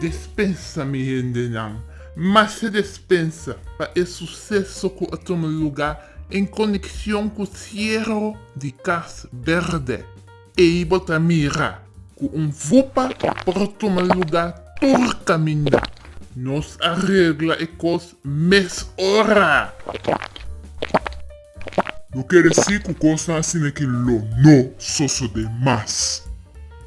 Despensa mi hendenan, mashá despensa pa e suseso ku a tuma lugá en konekshon ku siero di Kas Bèrdè. Ei bo ta mira cu un vupa por tuma luga tur caminda. Nos a regla e cos mes ora. No kere si cu cosnan asina ki lo no sosode mas.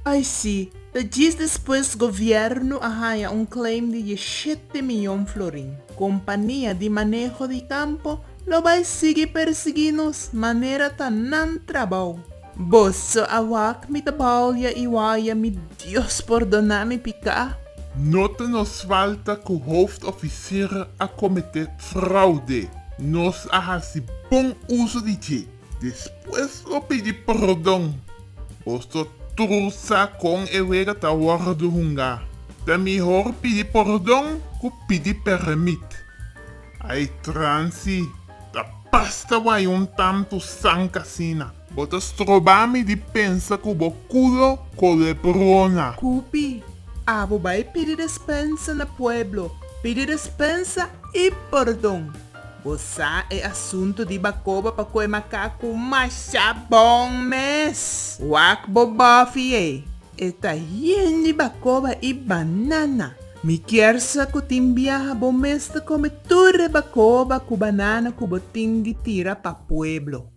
Ai si, ta djis despues gobierno a haña un claim di dieshete miyon florin. Compania di maneho di campo lo bay sigui persigi nos manera ta nan trabao. Boso a wak mi ta bouya i waya mi Dios pordona mi piká. No ta nos falta ku hooft ofisir a kometé fraude. Nos a hasi bon uso di dje. Despues lo pidi pordon. Boso tur sa kon e wega ta wòrdu hunga. Ta mihor pidi pordon ku pidi pèrmit. Ai transi. Ta pasta wai un tantu sank asina. Bo ta stroba mi di pensa ku bo kulo kolebrona. Kupi, abo bai pidi despensa na pueblo, pidi despensa i pordon. Bo sa e asuntu di bakoba pa kue makaku masha bon mes. Wak bo bòfi ei. E ta yen di bacoba y banana. Mi kier sa cu tin biaha bo mes ta come tur e bacoba cu banana cu bo tin di tira pa pueblo.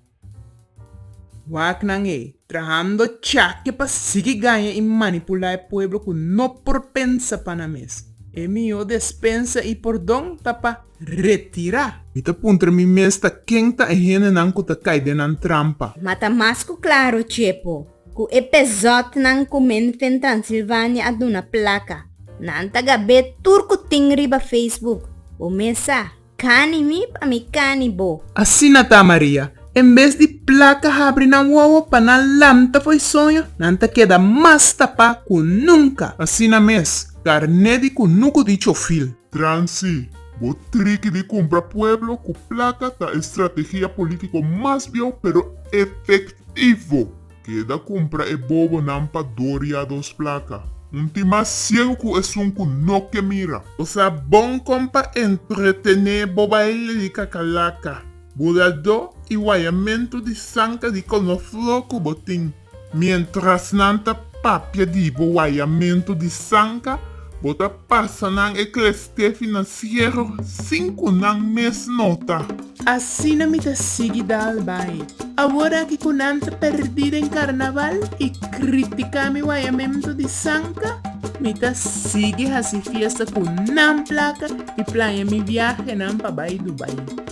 Waknan ey, trahando chake pa sigui gaña y manipula e pueblo cu no por pensa pa nan mes. E miho despensa y pordon ta pa retira. Mi ta puntra mi mes ta ken ta e hendenan cu ta cay den nan trampa. Mata mas cu claro, Chepo. Ku e pezòtnan ku mente den Transilvania a duna plaka, nan ta gab'é tur ku tin riba Facebook, Bo mesa kani mi pa mi kani bo. Asina ta, Maria. En bes di plaka habri nan wowo pa nan lanta fo'i soño, nan ta keda mas tapá ku nunka. Asina mes, karné di kunuku di chofil. Transi, Bo triki di kumpra pueblo ku plata ta e strategia politiko mas bieu pero efektivo. Keda kumpra e bobonan pa doria dos plaka. Un tin mas siegu ku esun ku no ke mira. Bo sa bon kon pa entretené bo baile di kakalaka, buradó i wayamentu di sanka di konofló ku bo tin. Mientras nan ta papia di bo wayamentu di sanka, bo ta pasa nan e kleste financiero sin cu nan mes nota. Asina mi ta sigui dal bay. Awor aki cu nan ta perdi den carnaval y critica mi wayamentu di sanka, mi ta sigui haci fiesta cu nan placa y plania mi viahenan pa bay Dubai.